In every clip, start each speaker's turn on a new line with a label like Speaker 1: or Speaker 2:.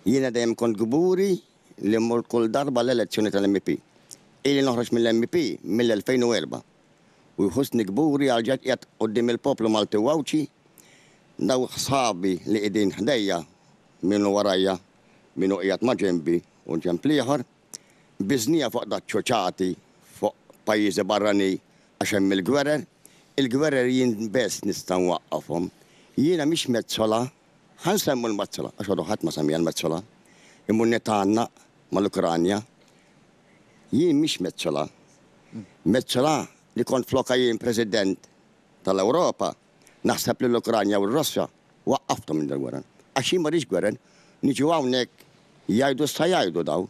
Speaker 1: Jiena dejjem kont kburi li mmur kull darba għall-elezzjoni tal-MP. Ili noħroġ mill-MP mill-2004 u jħussni kburi għal ġgħid qiegħed quddiem il-poplu Malti u Għawdxi, dawk sħabi li qiegħdin ħdejja, min hu warajja, min hu qiegħed ma' ġenbi u ġenb l-ieħor. Biżnija fuq dak ċuċati fuq pajjiżi barrani għax hemm il-gwerer. Il-gwerer jien bess nista' nwaqqafhom. Jiena mhix mezzola Ħa nsemmu l-Mazzola, għax għadu ħadd ma semmiha l-Mazzola. Il-Munnetta għannaq mal-Ukranja. Jien mhix Mezzola. Mezzola li kont flokha jien President tal-Ewropa, naħseb li l-Ukranja u r-Russja waqqafthom minn dal-gwerer. Għax jien ma rridx gwerer. Niġu hawnhekk jgħidu x'sa jgħidu dawn.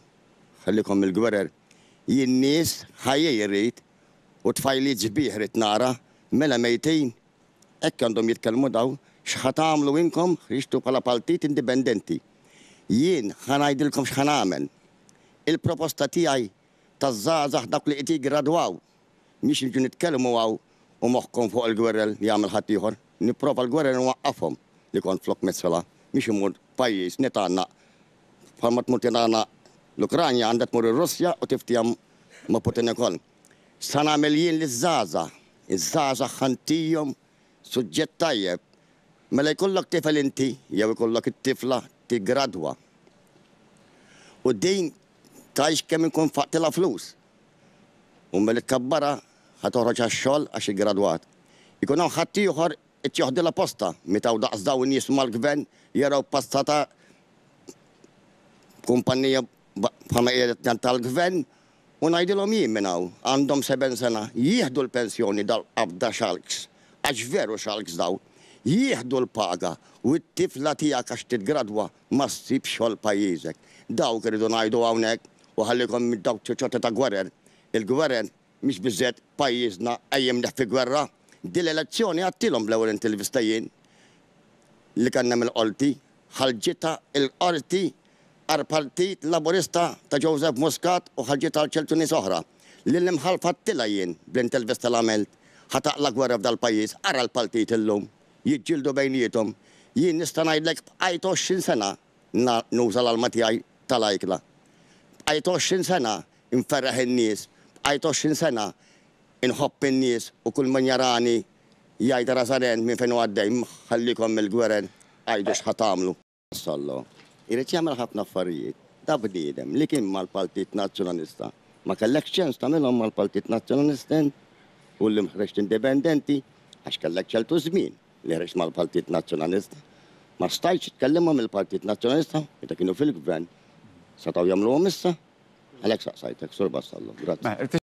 Speaker 1: Ħallikom mill-gwerer. Jien nies ħajjej irrid u tfajliet sbieħ rrid nara, mela mejtin Hekk għandhom jitkellmu dawn, x'ħa tagħmlu inkom ħriġtu bħala paltit indipendenti. Jien ħa ngħidilkom x'ħa nagħmel. Il-proposta tiegħi taż-żgħażagħ dawk li qed jiggradwaw mhix niġu nitkellmu hawn u moħħkom fuq il-gwerer li jagħmel ħaddieħor. Nipprova l-gwerer inwaqqafhom li kont flok messela mhix immur pajjiż nitgħannaq. Bħalma tmur titgħannaq l-Ukranja għandha tmur ir-Russja u tiftiehem ma' Putin ukoll. X'sa nagħmel jien liż-żgħażagħ? Iż-żgħażagħ ħa ntihom suġġett tajjeb. Mela jkollok tifel inti jew ikollok it-tifla tiggradwa u din tgħix kemm inkun faqtilha flus. U mela tkabbarha ħa toħroġ għax-xogħol għax iggradwat. Ikun hawn ħaddieħor irid joħdilha postha. Meta hawn daqs dawn nies mal-gvern jaraw passatha b'kumpannija bħalma qiegħda tgħid tal-gvern U ngħidilhom jien minn hawn, għandhom seben sena, jieħdu l-pensjoni dal-qabda xalks, għax veru xalks dawn, jieħdu l-paga u t-tifla tiegħek għax titgradwa ma ssibx xogħol pajjiżek. Dawk irridu ngħidu hawnhekk u ħallikom minn dawk ċoċotti ta' gwerer. Il-gwerer mhix biżżejjed pajjiżna qajjimnieh fi gwerra. Din l-elezzjoni għadtilhom bl-ewwel intervista jien li kellna mill-Qorti, ħarġitha l-Qorti għall-Partit Laburista ta' Joseph Muscat u ħarġiet għal ċertu nies oħra, li l-imħallef għadtilha jien bl-intervista li għamilt, ħa taqla' gwerra f'dal-pajjiż, ara l-paltit illum, jiġġieldu bejniethom, jien nista' ngħidlek bqajt għoxrin sena na nuża l-alma tiegħi ta' l-ajkla, bqajt għoxrin sena nferreħ in-nies, bqajt għoxrin sena nħobb in-nies u kull min jarani jgħid ara Żaren minn fejn hu għaddej, ħallikom mill-gwerer, għidu x'ħa tagħmlu. Sollo, irid jagħmel ħafna affarijiet. Da bniedem li kien mal-Paltit Nazzjonalista. Ma kellekx ċans tagħmilhom mal-Paltit Nazzjonalisten u li ħreġt indipendenti għax kellek ċertu żmien li ħreġt mal-Paltit Nazzjonalista. Ma stajtx tkellimhom il-Partit Nazzjonalista meta kienu fil-Gvern. Setgħu jagħmluhom issa? Għalhekk saqsajtek, Sur Vassallo. Grazzi.